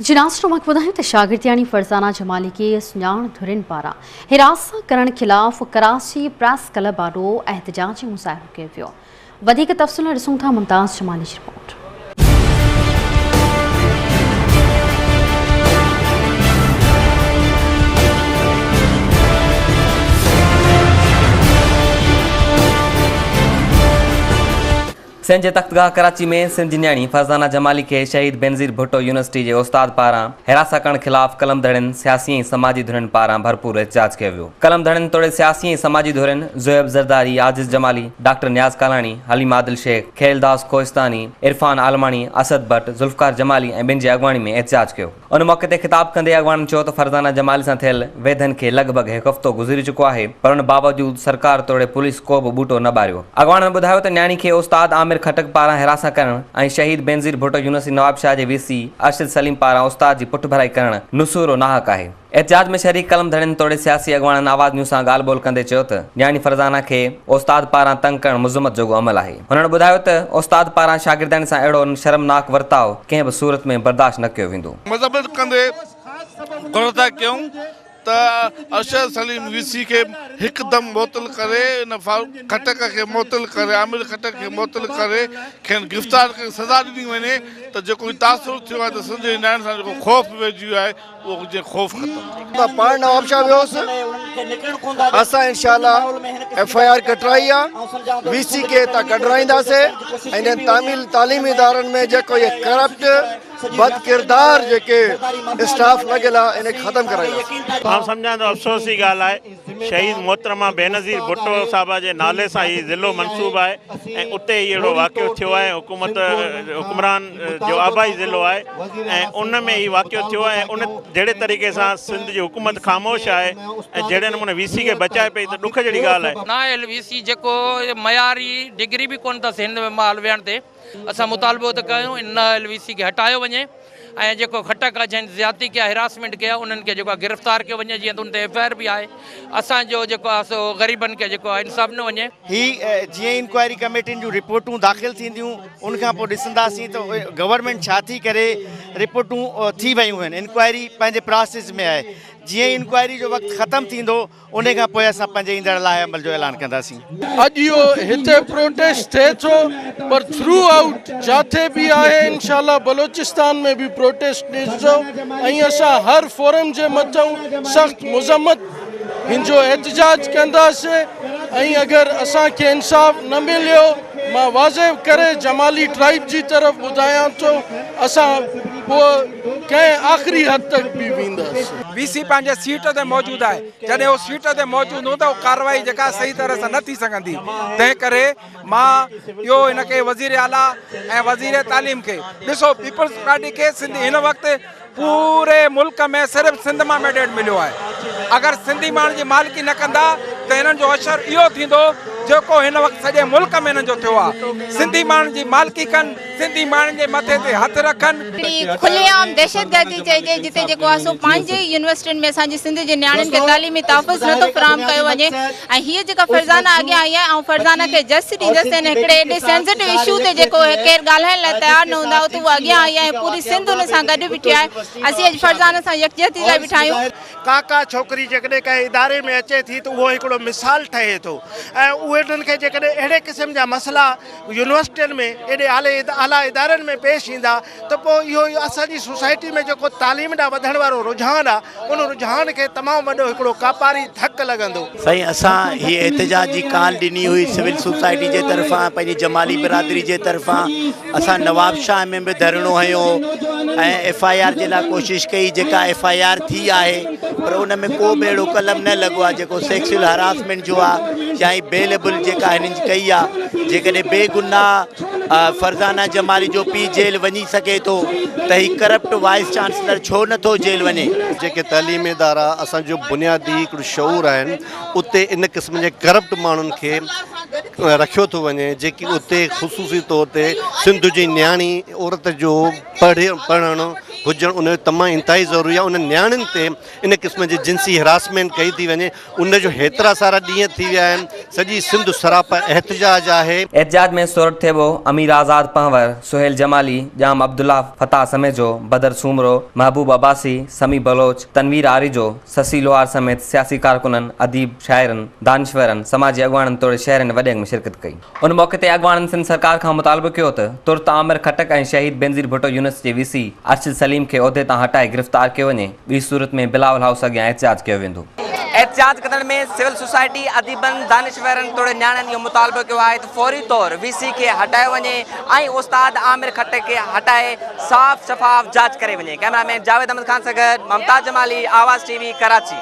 جناح اسٽماڪ ٻڌايو ته شاگردياڻي فرزانه جمالي کي سڃاڻ ڌرين پاران حراست ڪرڻ خلاف ڪراچي پريس ڪلب آڏو احتجاجي مظاهرو ڪيو ويو وڌيڪ تفصيل لاء ڏسون ٿا ممتاز جمالي جي رپورٽ سنڌ جي تختگاهه ڪراچي ۾ سنڌ جي نياڻي فرزانه جمالي کي شهيد بينظير ڀٽو يونيورسٽي جي استاد پاران حراسان ڪرڻ خلاف قلم ڌڙين سياسي ۽ سماجي ڌرين پاران ڀرپور احتجاج ڪيو ويو قلم ڌڙين توڙي سياسي ۽ سماجي ڌرين زويب زرداري عاجز جمالي ڊاڪٽر نياز ڪالاڻي حليم عادل شيخ خيلداس ڪوهستاني عرفان عالماڻي اسد بٽ ذوالفقار جمالي ۽ ٻين جي اڳواڻي ۾ احتجاج ڪيو. ان موقعي تي خطاب ڪندي اڳواڻن چيو ته فرزانه جمالي سان ٿيل ويڌن کي لڳ ڀڳ هڪ هفتو گذري چڪو آهي پر ان باوجود سرڪار توڙي پوليس ڪو به ٻوٽو نه ٻاريو. اڳواڻن ٻڌايو ته نياڻي کي استاد عامر خٽڪ پاران حراسان ڪرڻ ۽ شهيد بينظير ڀٽو يونيورسٽي نوابشاهه جي وي سي ارشد سليم پاران استاد جي پٺڀرائي ڪرڻ نسوئرو ناحق آهي. احتجاج ۾ شريڪ قلم ڌڻين توڙي سياسي اڳواڻن آواز نيوز سان ڳالهه ٻولهه ڪندي چيو ته نياڻي فرزانه کي استاد پاران تنگ ڪرڻ مذمت جوڳو عمل آهي. هنن ٻڌايو ته استاد پاران شاگردن سان اهڙو شرمناڪ ورتاء ڪنهن به صورت ۾ برداشت نه ڪيو ويندو. مذمت ڪندي گهر ادا ڪيائون ته ارشد سليم وي سي کي هڪدم معطل ڪري ان فاروق خٽڪ کي معطل ڪري عامر خٽڪ کي معطل ڪري کين گرفتار ڪري سزا ڏني وڃي ته جيڪو هي تاثر ٿيو آهي ته سنڌ جي نياڻين سان جيڪو خوف ويهجي ويو آهي اهجي خوف ختم. مان پاڻ نوابشاهه ويوس اسان انشاء الله ايف آء آر ڪٽرائي آ وي سي کي هتان ڪڍرائينداسي انهن تامل تعليمي ادارن ۾ جيڪو هي ڪرپٽ بد ڪردار جيڪي اسٽاف لڳل آ ان کي ختم ڪرائينداسي. مان سمجهان ٿو افسوس جي ڳالهه آهي. شهيد محترمه بينظير ڀٽو صاحبه جي نالي سان هي ضلعو منسوب آهي ۽ اتي ئي اهڙو واقعو ٿيو آهي ۽ حڪومت حڪمران جو آبائي ضلعو آهي ۽ ان ۾ هي واقعو ٿيو آهي ۽ ان جهڙي طريقي سان سنڌ جي حڪومت خاموش آهي ۽ جهڙي نموني وي سي کي بچائي پئي ته ڏک جهڙي ڳالهه آهي. نااهل وي سي جيڪو معياري ڊگري به ڪونه اٿس هن مهل ويهڻ تي. اسان مطالبو ته ڪيو ان ايل وي سي کي هٽايو وڃي ۽ جيڪو خٽڪ آهي جنهن زيادتي ڪئي آهي هراسمينٽ ڪئي آهي انهن کي جيڪو آهي گرفتار ڪيو وڃي جيئن ته ان تي ايف آء آر به آهي اسان جو جيڪو آهي سو غريبن کي جيڪو آهي انصاف ڏنو وڃي. هي جيئن انڪوائري ڪميٽين جون رپورٽون داخل ٿينديون ان کان پوء ڏسنداسين ته گورنمينٽ ڇا ٿي ڪري رپورٽون ٿي ويون آهن انڪوائري پنهنجي پراسيس ۾ آهي جيئن ئي انڪوائري جو وقت ختم ٿيندو انهي کان پوء اسان پنهنجي ايندڙ لاء عمل جو اعلان ڪنداسين. اڄ اهو هتي پروٽيسٽ ٿئي ٿو پر ٿرو آئوٽ جاٿي به آهي انشاء الله بلوچستان ۾ به پروٽيسٽ ڏسجو ۽ اسان هر فورم جي مٿئون سخت مذمت هنجو احتجاج ڪنداسين ۽ اگر اسان کي انصاف نه مليو مان واضح ڪري جمالي ٽرائيب جي طرف ٻڌايان ٿو اسان پوء ڪنهن آخري حد تڪ به ويندس. وي سي پنهنجي سيٽ تي موجود آهي، جڏهن هو سيٽ تي موجود هوندو ته اها ڪارروائي جيڪا صحيح طرح سان نه ٿي سگهندي، تنهن ڪري مان اهو هن کي وزير اعليٰ ۽ وزير تعليم کي ڏسو پيپلز پارٽي کي سنڌ هن وقت پوري ملڪ ۾ صرف سنڌ مان ميڊيٽ مليو آهي، اگر سنڌي ماڻهن جي مالڪي نه ڪندا ته هنن جو حشر اهو ٿيندو جيڪو هن وقت سڄي ملڪ ۾ هنن جو ٿيو آهي، سنڌي ماڻهن جي مالڪي ڪن. سنڌي ماڻهن جي مٿي تي هٿ رکن. هڪڙي کلي عام دهشتگردي چئجي جتي جيڪو آهي سو پنهنجي ئي يونيورسٽين ۾ اسان جي سنڌ جي نياڻين کي تعليمي تحفظ نه ٿو فراهم ڪيو وڃي ۽ هيء جيڪا فرزانه اڳيان آئي آهي آئون فرزانه کي جسٽس ڏيندس ته هن هڪڙي ايڏي سينسٽو اشو تي جيڪو ڪير ڳالهائڻ لاء تيار نه هوندا اتي هوء اڳيان آئي آهي ۽ پوري سنڌ هن سان گڏ بيٺي آهي اسين اڄ فرزانه سان يڪجهتي لاء بيٺا آهيون. ڪا ڪا ڇوڪري جيڪڏهن ڪنهن اداري ۾ اچي ٿي ته اهو هڪڙو مثال ٺهي ٿو ۽ اهي انهن کي جيڪڏهن اهڙي قسم جا مسئلا يونيورسٽين ۾ ايڏي اعليٰ ادارن ۾ پيش ايندا ته پوء اهو اسان جي سوسائٽي ۾ جيڪو تعليم ڏانهن وڌڻ وارو رجحان آ ان رجحان کي تمام وڏو هڪڙو ڪاپاري ڌڪ لڳندو. سائين اسان هي احتجاج جي ڪال ڏني هئي سول سوسائٽي جي طرفان پنهنجي جمالي برادري جي طرفان اسان نوابشاهه ۾ به ڌرڻو هنيو هو ۽ ايف آء آر جي لاء ڪوشش ڪئي جيڪا ايف آء آر ٿي آهي. پر ان ۾ ڪو به اهڙو قلم نه لڳو آهي جيڪو سيڪسيل هراسمينٽ جو آهي يا هي بي ليبل جيڪا هنن ڪئي آهي جيڪڏهن بي گناهه فرزانه جمالي جو پي جيل وڃي سگهي ٿو ته هي ڪرپٽ وائيس چانسلر ڇو نه ٿو جيل وڃي. جيڪي تعليمي ادارا اسان جو بنيادي هڪڙو شعور آهن اتي ان قسم جي ڪرپٽ ماڻهن کي رکيو ٿو وڃي جيڪي اتي خصوصي طور تي سنڌ جي نياڻي عورت جو پڙهي پڙهڻو هجڻ ان جو تمام انتهائي ضروري آهي انهن نياڻين تي ان قسم جي جنسي هراسمينٽ ڪئي ٿي وڃي ان جو هيترا سارا ڏينهن ٿي ويا آهن سڄي سنڌ سراپا احتجاج آهي. احتجاج ۾ سورٺ ٿيٻو، امير آزاد پنهور، سهيل جمالي، ڄام عبدالله، فتاح سميجو، بدر سومرو، محبوب عباسي، سميع بلوچ، تنوير آريجو، سسي لوهار سميت سياسي ڪارڪنن، اديب، شاعرن، دانشورن، سماجي اڳواڻن توڙي شهرين وڏي انگ ۾ شرڪت ڪئي. ان موقعي تي اڳواڻن سنڌ سرڪار کان مطالبو ڪيو ته ترت عامر خٽڪ ۽ شهيد بينظير ڀٽو يونس جي وي سي ارشد سليم کي عهدي تان هٽائي گرفتار ڪيو وڃي ٻي صورت ۾ بلاول هائوس اڳيان احتجاج ڪيو ويندو. احتجاج ڪندڙن ۾ سول سوسائٽي، اديبن، دانشورن توڙي نياڻين اهو مطالبو ڪيو آهي ته فوري طور وي سي کي هٽايو وڃي ۽ استاد عامر خٽڪ کي هٽائي صاف شفاف جاچ ڪري وڃي ڪئميرا مين جاويد احمد خان سان گڏ ممتاز جمالي آواز ٽي وي ڪراچي.